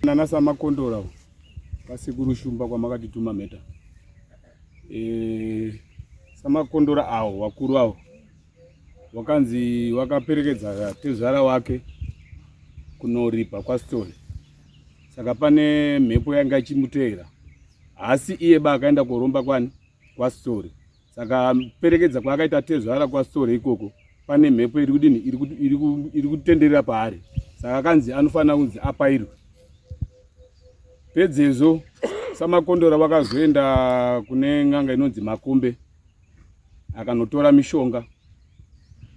nana samakondora vasekuru shumba kwamakatituma mheta e, samakondora awo vakuru avo wakanzi wakaperekedza tezvara wake kunoripa kwastone saka pane mhepo yanga ichimuteera haasi iye ba akaenda koromba kwani kwastone saka perekedza kwaakaita tezvara kwasitore ikoko pane mhepo iri kudini iri kutenderera paari saka akanzi anofanira kunzi apairwe pedzezvo samakondora vakazoenda kune n'anga inonzi makombe akanotora mishonga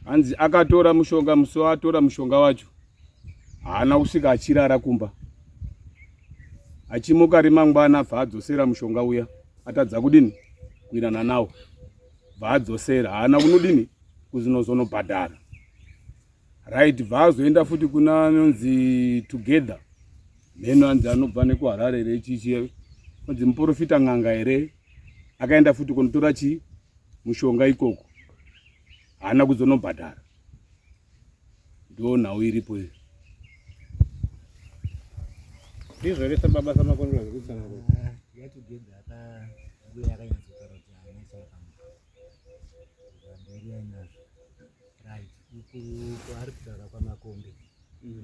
hanzi akatora mushonga musi waatora mushonga wacho haana kusvika achirara kumba achimuka rimangwana abva adzosera mushonga uya atadza kudini kuinana nawo bva adzosera haana kunodini kuzinozonobhadhara right bva azoenda futi kuna anonzi together mheno anzi anobva nekuharare here chichie anzi muprofita n'anga here akaenda futi kunotora chii mushonga ikoko haana kuzonobhadhara Ndo nhau iripo iyo. Ndizvo here sababa samakondora zvekutsana kuti. Yatugenda apa mbuya yakanyatsa kutaura kuti haina chakamuka. Mberi yainazvo. Right. Uku ari kutaura kwamakombe.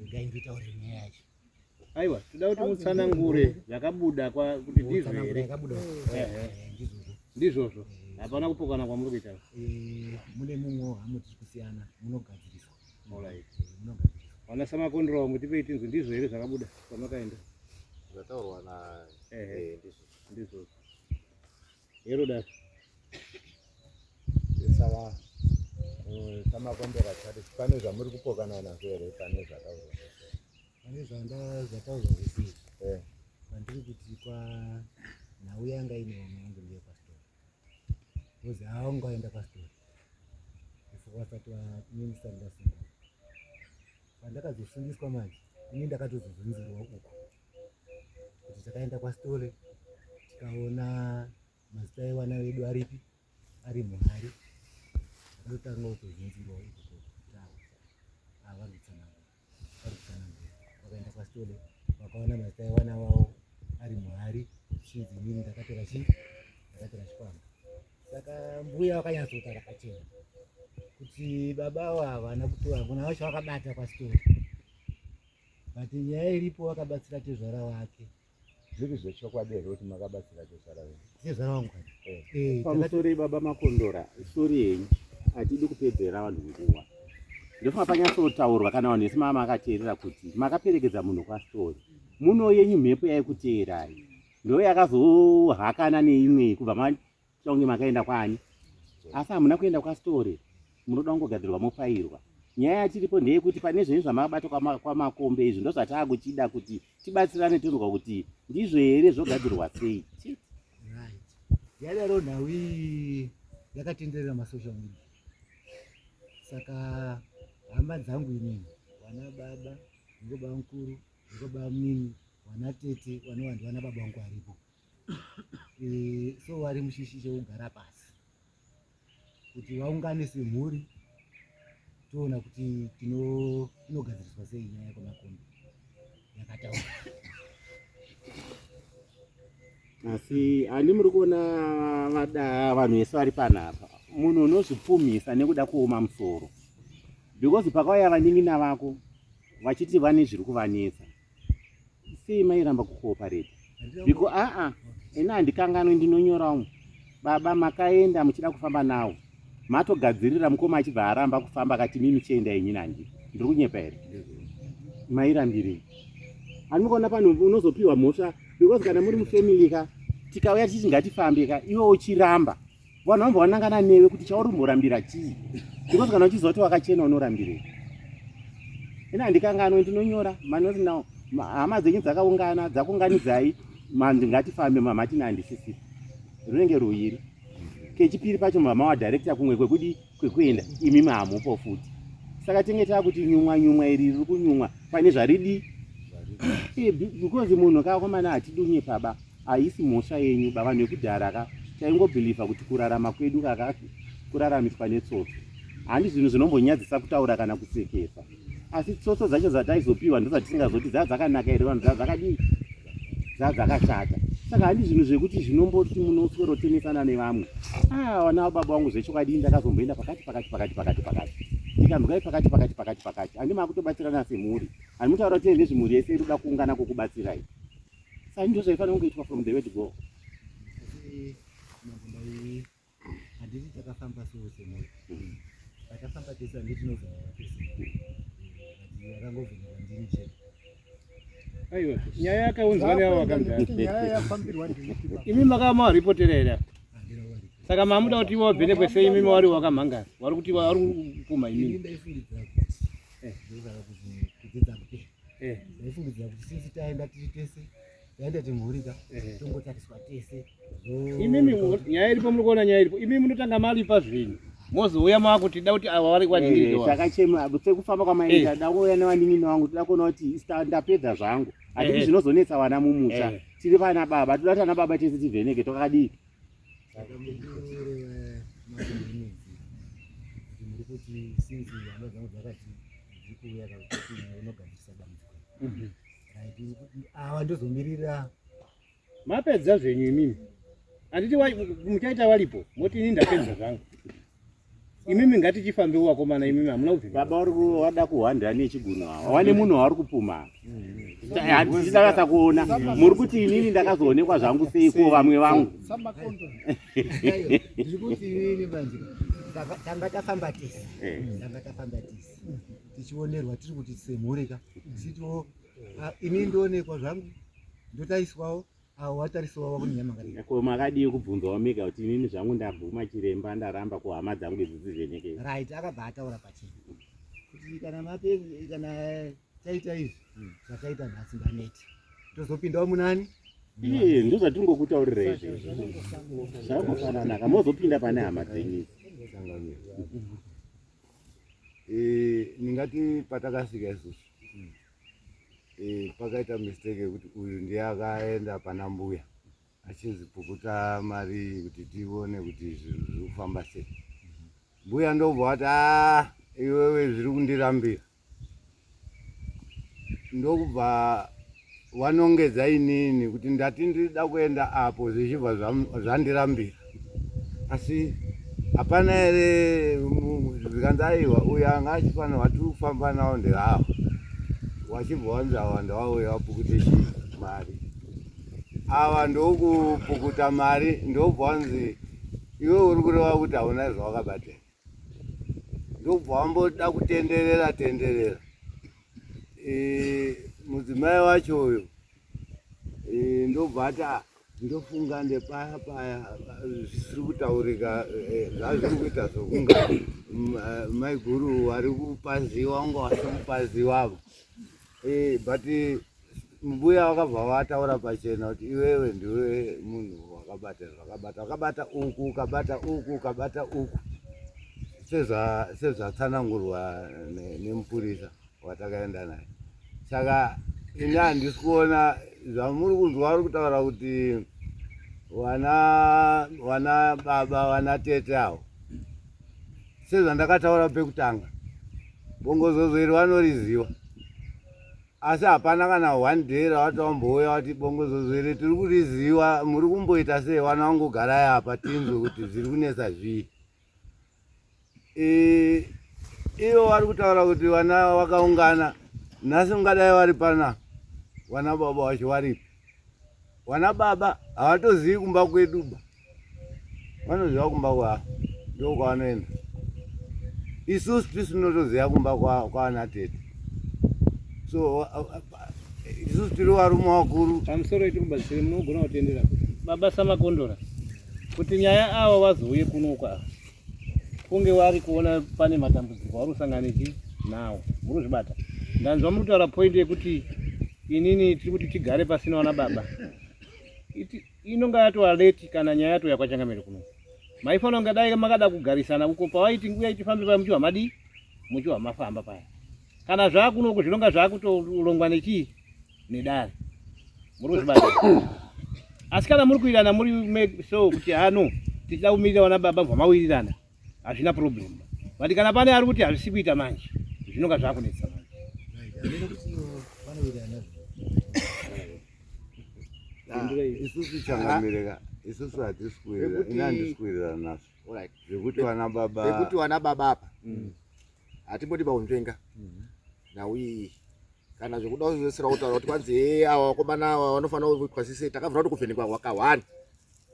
Regai nditaure nyaya yacho. Aiwa, toda kuti mutsanangure zvakabuda kwa kuti ndizvo here? Eh, eh, eh, ndizvozvo. Hapana kupokana kwamuri kuita. Mune mumwe hamo tiri kusiyana, munogadzirisa. Alright. Munogadzirisa. Wana sama kondro wangu tipei tinzwe ndizvo here zvakabuda kwamakaenda? Zvataurwa na eh ndizvo. Ndizvo. Hero dad. Sawa. Eh, kama kombe la tatu pane zvamuri kupokana nazvo here pane zvakauzwa pane zvanda zvakauzwa zvese eh. pandiri kuti kwa nhau yanga ine vamwe yangu ndiye pastori kozi haunga waenda pastori before vasati vaminista ndasungwa pandakazosundiswa manje ini ndakatozozunzirwa uko kuti takaenda kwasitore tikaona mazita evana vedu aripi ari muhari akatotanga kutozunzirwa vakaenda kwasitole vakaona mazita evana vavo ari muhari chinzi inini ndakatora chi ndakatora chikwama saka mbuya vakanyatsoita rakachena kuti baba avo havana kutora ngona vacho vakabata kwasitole but nyaya iripo vakabatsira tezvara wake zviri zvechokwadi here kuti makabatsira tezvara venyu tezvara wangu eh. eh, pamusorei baba makondora sori henyu hatidi kupedzera vanhu nguva ndofunga panyatsotaurwa kana vanhu vese maa makateerera kuti makaperekedza munhu kwastori muno yenyu mhepo yaikuteerai ndo yakazohakana neimwe kubva Chonge makaenda kwani? Asi hamuna kuenda kwaStory. Munoda kungogadzirwa mofairwa. Nyaya yatiripo ndeyekuti pane zvenyu zvamakabata kwamakombe izvi ndozvataakuchida kuti tibatsirane tonzwa kuti ndizvo here zvogadzirwa sei. Yadaro nhau iyi yakatenderera masocial media. Saka hama dzangu inini vana baba ndiko bamukuru ndiko bamnini vana tete vanowandi vana baba vangu varipo Eh, so wari mushishi chekugara pasi kuti vaungane semhuri toona kuti tinogadziriswa sei nyaya kwemakombi yakataura asi ani muri kuona vada vanhu vese vari panapa munhu unozvipfumisa nekuda kuoma musoro because pakauya vanin'ina vako vachiti vane zviri kuvanetsa sei mairamba kukoopareta biko aa ini handikanganwi ndinonyorawo baba makaenda muchida kufamba nawo matogadzirira mukoma achibva aramba kufamba akati mimi chienda yenyu nandi ndiri kunyepa here mairambirei ani mukaona pano unozopiwa mhosva because kana muri mufamily ka tikauya tichiti ngatifambe ka iwe uchiramba vanhu vambo vanangana newe kuti chauri mborambira chii because kana uchiziva kuti wakachena unorambirei ini handikanganwe ndinonyora manoti now hama dzenyu dzakaungana dzakunganidzai manzi ngatifambe mamatina handisisiri runenge ruviri kechipiri pacho mama wadirecta kumwe kwekudii kwekuenda imi mahamupo futi saka tenge taa kuti nyumwa nyumwa iri riri kunyumwa pane zvaridii eh, because munhu kaakomana hatidunye paba haisi mhosva yenyu bavanhu vekudhara ka taingobhilivha kuti kurarama kwedu kaka kuraramiswa netsotso handi zvinhu zvinombonyadzisa kutaura kana kusekesa asi tsotso dzacho dzataizopiwa ndozvatisingazoti dzaa dzakanaka here vanhu dzaa dzakadii dzaa dzakashata saka handi zvinhu zvekuti zvinomboti munoswerotenesana nevamwe aa ah, vana vababa vangu zvechokwadi ndakazomboenda pakati pakati pakati pakati pakati ndikambikai pakati pakati pakati pakati handi maakutobatsirana semhuri handi mutaura kuti ende zvimhuri yese iri kuda kuungana kokubatsirai saka ndozvaifanira kungoitwa from the way to go handiti takafamba so semoyo mm. takafamba tese handi tinovheneka tese yakangovheneka ndini chete aiwa nyaya yakaunzwa neavo vakamdara imi makava mawaripotera here saka mamuda kuti ivo vavhenekwe sei imimi wari wakamhangara wari kuti wari kupuma imimi ndaifungidzira kuti since taenda tiri tese yaenda timhurika eh. tongotariswa tese imimi nyaya iripo muri kuona nyaya iripo imimi munotanga malipa zvenyu mozouya makutida kuti ava vari kwaninini eh, takachema sekufamba kwamaita eh. dakouya nevaninini vangu tida kuona kuti ndapedza zvangu hatidi zvinozonetsa vana mumusha tiri vana baba toda kuti ana baba tese tivheneke tokadii kuti sinzi hama dzangu dzakati dziri kuuya kakuti unogadzirisa dambudziko mhm. awa ndozomirira mapedza zvenyu imimi handiti muchaita walipo moti ini ndapedza zvangu imimi ngatichifambe uwakomana imimi hamuna kuvi baba uri wada kuhwanda ane chigunu awa wane mm. munhu wauri kupuma handisakasa kuona muri kuti inini ndakazoonekwa zvangu seiko vamwe vangu tanga tafamba tisi eh. tanga tafamba tisi tichionerwa tiri kuti semhuri ka sitoo ah, ini ndoonekwa zvangu ndotariswawo awo watariswawo wakunyama kare ko makadii kubvunzawo mega kuti inini zvangu ndabvuma chiremba ndaramba ko hama dzangu idzi dzivheneke right akabva ataura pachii kuti kana mape kana taita izvi hmm. zvataita nhasi ndaneti tozopindawo munani iye ndozvatiri ngokutaurira izvi zvakufananaka mozopinda pane hama dzenyu eh, ndingati patakasvika isusu mm. eh, pakaita mistake yekuti uyu ndiye akaenda pana mbuya achinzi pukuta mari kuti tione kuti zvinhu zviri kufamba sei mbuya ndobva wati a ah, iwewe zviri kundirambira ndokubva vanongedza inini kuti ndati ndida kuenda apo zvichibva zvandirambira asi hapana here zvikanzi aiwa uyo anga achifanirwa tiri kufamba nawo ndirava wachibva wanzi awa ndawauya wapukuta chii mari ava ndokupukuta mari ndobva wanzi iwe uri kureva kuti hauna zvawakabatira ndobva wamboda kutenderera tenderera e, mudzimai wacho uyo e, ndobva ati ah, ndofunga ndepaya paya zvisiri kutaurika e, zvazviri kuita zvokunga maiguru vari kupaziwa unga vasiri kupaziwavo but mbuya vakabva vataura pachena kuti iwewe ndiwe munhu wakabata zvakabata wakabata uku ukabata uku ukabata uku sezvatsanangurwa nemupurisa watakaenda naye saka ini handisi kuona zvamuri kunzwa vari kutaura kuti wana wana baba wana tete avo sezvandakataura pekutanga bongozozo iri vanoriziva asi hapana kana one day rawatambouya wati bongozozo iri tiri kuriziva muri kumboita sei wana wangogara yapa tinzwe kuti zviri kunetsa zvii e, ivo vari kutaura kuti vana vakaungana nhasi ungadai vari pana vana baba vacho varipi Wana baba hawatozivi kumba kwedu ba. Vanoziva kumba kwa ndo kwavanoenda. Isu sisi tinotoziva kumba kwa kwana tete. So isu tiri varume vakuru. Pamusoro iti kumba sisi munogona kutendera. Baba sama kondora. Kuti nyaya awa wazouye kuno kwa. kunge wari kuona pane matambudziko wari kusangana nechi nawo muri kuzvibata ndanzwa muri kutaura point yekuti inini tiri kuti tigare pasina wana baba inonga yatova leti kana nyaya yatouya kwachangamire kuno maifanira kunge dai makada kugarisana uko pavaiti nguya itifambe paya muchiwa madii muchiwa mafamba paya kana zvaakunoku zvinonga zvaakutolongwa nechii nedare muri kuzvibata asi kana muri kuirana muri make so kuti hano tichida kumirira vana baba bva mawirirana hazvina problem but kana pane ari kuti hazvisi kuita manje zvinonga zvakunetsa manje isusu changamireka isusu hatisi kuirira ini handisi kuirira nazvo zvekuti vana baba apa mm. hatimbodi baunzvenga mhm. nhau iyi kana zvekuda kuzvesera kutaura kuti kwanzi hee awa vakomana awa vanofanira kuitwa sise takavhura kuti kuvhenekwa wakahwani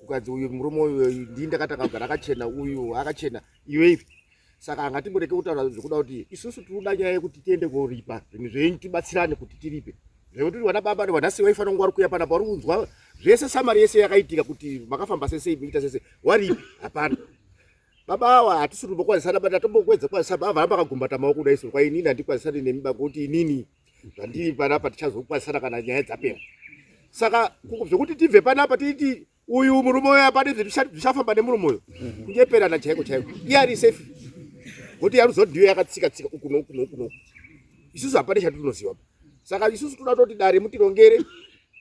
ukanzi uyu murume uyu ndii ndakatanga kugara akachena uyu akachena iwe ivi saka anga timboreke kutaura zvekuda kuti isusu tiri kuda nyaya yekuti tiende koripa zvinhu zvenyu tibatsirane kuti tiripe zvekuti uri vana baba nevana sei vaifanira kunge vari kuya pana pauri kunzwa zvese samari yese yakaitika kuti makafamba sese iita sese waripi hapana baba awa hatisiri kumbokwanisana but atombokwedza kwanisana baba varamba akagumbata maoko kuda iso kwainini handikwanisani nemi bakuti inini zvandiri panapa tichazokwanisana kana nyaya dzapera saka zvekuti tibve panapa tiiti uyu murume uyo apane zvichafamba nemurume uyo mhm. kunyeperana chaiko chaiko iye ari safe kuti yaruzodhiyo yakatsika tsika uku noku noku noku isusu hapane chatinoziva saka isusu toda toti dare mutirongere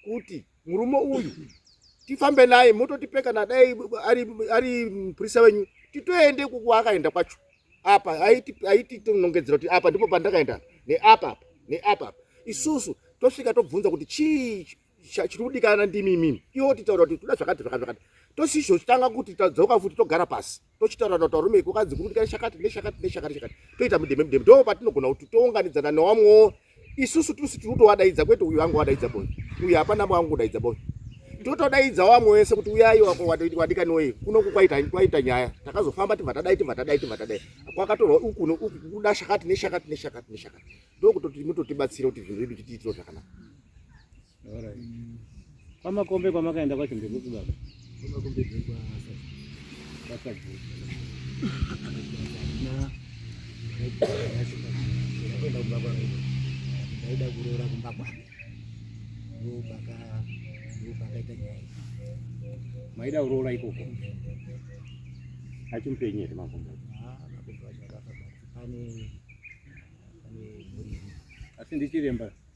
kuti murume uyu tifambe naye mototipe kana dai ari, ari mupurisa wenyu titoende kukuakaenda kwacho apa aiti tinongedzera kuti apa ndipo pandakaenda neapa apa neapa apa isusu tosvika tobvunza kuti chii chiri kudikana ndimi imimi iwo titaura kuti toda zvakati zvakati zvakati tosizvo tanga kuti tadzoka futi togara pasi tochitaura na tarume iko kanzi kuti kai shakati ne shakati ne shakati shakati toita mudeme mudeme ndo patinogona kuti tounganidzana newamwo isusu tusi tirutowadaidza kwete uyu wangu wadaidza boy uyu hapana mwangu kudaidza boy totodaidza wamwe wese kuti uyai wadikaniwei kunoku kwaita kwaita nyaya takazofamba tibva tadai tibva tadai tibva tadai kwakatorwa uku no uku kuda shakati ne shakati ne shakati ne shakati ndokutoti mutotibatsira kuti zvinhu zvedu chitiitiro zvakanaka Kwamakombe kwamakaenda kwacho ndekupi baba? Kwamakombe ndekwa Sasabu. Na ndaenda kumba kwangu. Ndaida kuroora kumba kwangu. Ndopaka ndopakaita nyaya. Maida kuroora ikoko. Achimupenyu here makombe? Ah, makombe acho akafa. Pane pane asi ndichiremba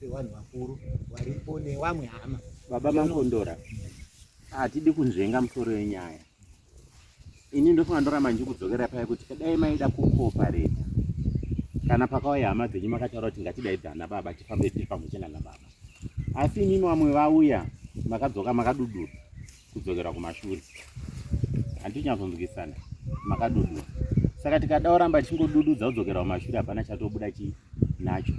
sevanhu vakuru varipo nevamwe hama baba makondora hatidi kunzvenga musoro yenyaya ini ndofunga ndoramba ndichikudzokera paya kuti kadai maida kukopareta kana pakauya hama dzenyu makataura kuti ngatidaidza ana baba tifambe tiri pamwe chena nababa asi imimi vamwe vauya makadzoka makadudura kudzokera kumashure handinyatsonzwisana makadudura saka tikada oramba tichingodududza kudzokera kumashure hapana chatobuda chi nacho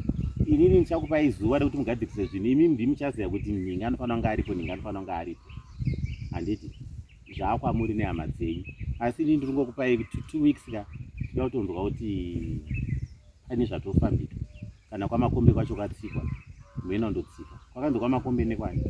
inini ndichakupai zuva rekuti mugadzikise zvinhu imi ndi muchaziva kuti nhinga anofanira kunge aripo nhinga anofanira kunge aripo handiti zvaakwamuri nehama dzenyu asi inini ndiri ngokupai two weeks ka tida kutonzwa kuti pane zvatofambika kana kwamakombe kwacho katsikwa mheno ndotsika kwakanzi kwamakombe nekwani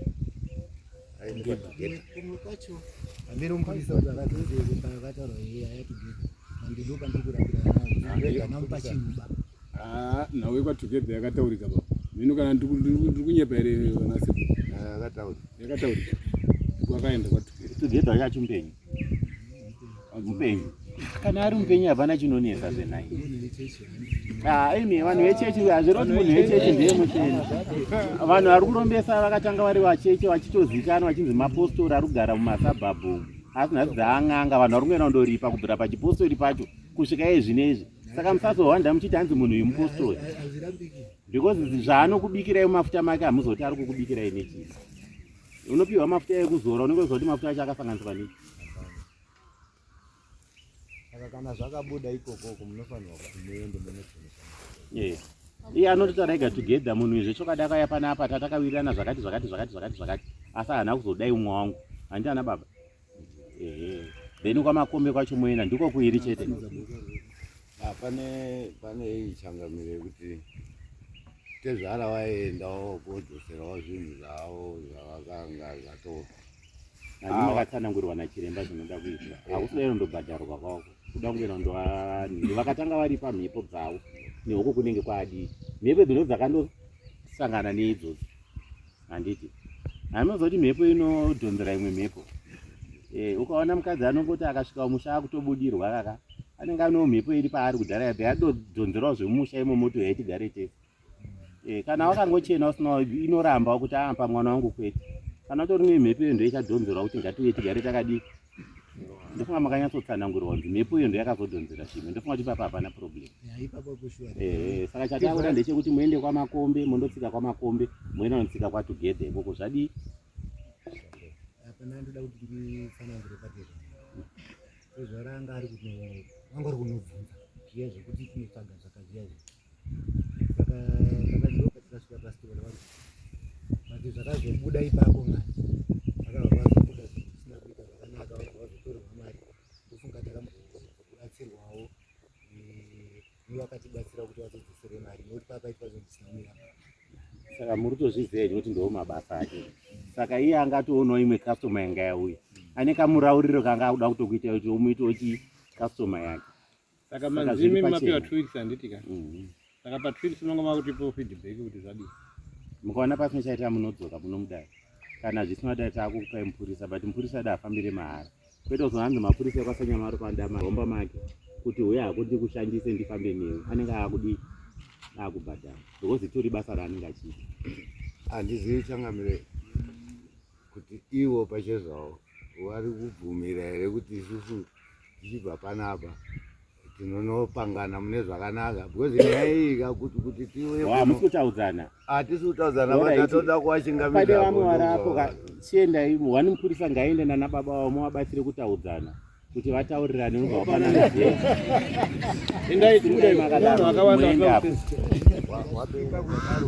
ah, nhau yekwatogether yakataurika baba mheno kana ndiri kunyepa here vanase ah, yakataurika kwakaenda kwatogether yacho mbenyu mupenyu kana ari mupenyu hapana chinonetsa zvenai ah, imi vanhu vechechi hazviroti munhu wechechi ndiye mucheni vanhu vari kurombesa vakatanga vari vacheche vachitozikanwa vachinzi mapostori ari kugara mumasabhabhu asi nhasi dzaang'anga vanhu vari kungoenda kundoripa kubvira pachipostori pacho kusvika iye zvine izvi saka musazowanda muchiti hanzi munhu uyu mupostori because zvaanokubikirai mumafuta make hamuzoti ari kukubikirai nechii Unopiwa mafuta ekuzora unenge uchiziva kuti mafuta acho akasanganiswa nei. Saka kana zvakabuda ikokoko munofanirwa kuti muende munotenesa. Eh. Iye anoti tarega together munhu izve chokwadi akauya panapa tatawirirana zvakati zvakati zvakati zvakati zvakati asi haana kuzodai umwe wangu. Handiti ana baba? ehe then kwamakombe kwacho moenda ndiko kuiri chete ah, pane pane iyi changamiro yekuti tezvara waendawo kodzoserawo zvinhu zvavo zvavakanga zvatova vakatsanangurwa nachiremba zvinoda kuitwa hakusidairo ndobhadharwa kwako kuda kungoenda ndoani vakatanga vari pamhepo dzavo nehoko kunenge kwaadii mhepo dzino dzakandosangana neidzodzo handiti anoziva kuti mhepo inodhonzera imwe mhepo eh, ukaona mukadzi anongoti akasvika musha akutobudirwa kaka anenge anewo mhepo iri paari kudhara yadhe yadodhonzerawo zvemumusha imo moto yaitigare tese eh, kana wakangochena usina inoramba kuti aampa ah, mwana wangu kwete kana utori nemhepo iyo ndoichadhonzerwa kuti ngatiuye tigare takadii ndofunga makanyatsotsanangurwa kuti mhepo iyo ndoyakazodhonzera chimwe ndofunga kuti ipapa hapana problem ehe saka chatakuda ndechekuti muende kwamakombe mondotsika kwamakombe moenda notsika kwatogether ikoko zvadii zvaranga ari kuti vanga ari kunobvunza zviya zvekuti tinotsvaga zvakazviya zvi zvakazobuda ipapo mwana akavazobuda zvisina kuita zvakanaka vazotorerwa mari ndofunga takambobatsirwawo nevakatibatsira kuti vazodzosere mari nokuti pakaitwa zvinhu zvisina kumira saka muri tozviziva here kuti ndoo mabasa ake saka iye anga atoonawo imwe customer yanga yauya ane kamurauriro kanga akuda kutokuita kuti umuite uchi customer yake Saka manzimi mapiwa two weeks handiti ka. Mhm. Saka pa two weeks munonga makutipo feedback kuti zvadii. Mukaona pasina chaita munodzoka munomudai. Kana zvisina dai takukupai mupurisa but mupurisa dai afambire mahara. Kwete kuzohanzi mapurisa kwasanyamaro panda mahomba make kuti huya hakuti kushandise ndifambe newe anenge akudi akubhadhara because itori basa raanenge achiita. Handizivi changamire kuti ivo pachezvavo vari kubvumira here kuti isusu tichibva panapa tinonopangana mune zvakanaka because nyaya iyi kakuti kuti tiwehamusi kutaudzana hatisi kutaudzana vatatoda kuwachingamide vamwe varapo chiendai wani mupurisa ngaende nana baba vavo muvabatsire kutaudzana kuti vataurirane unobva wapanana endai timudaimakadarowapinga kudaro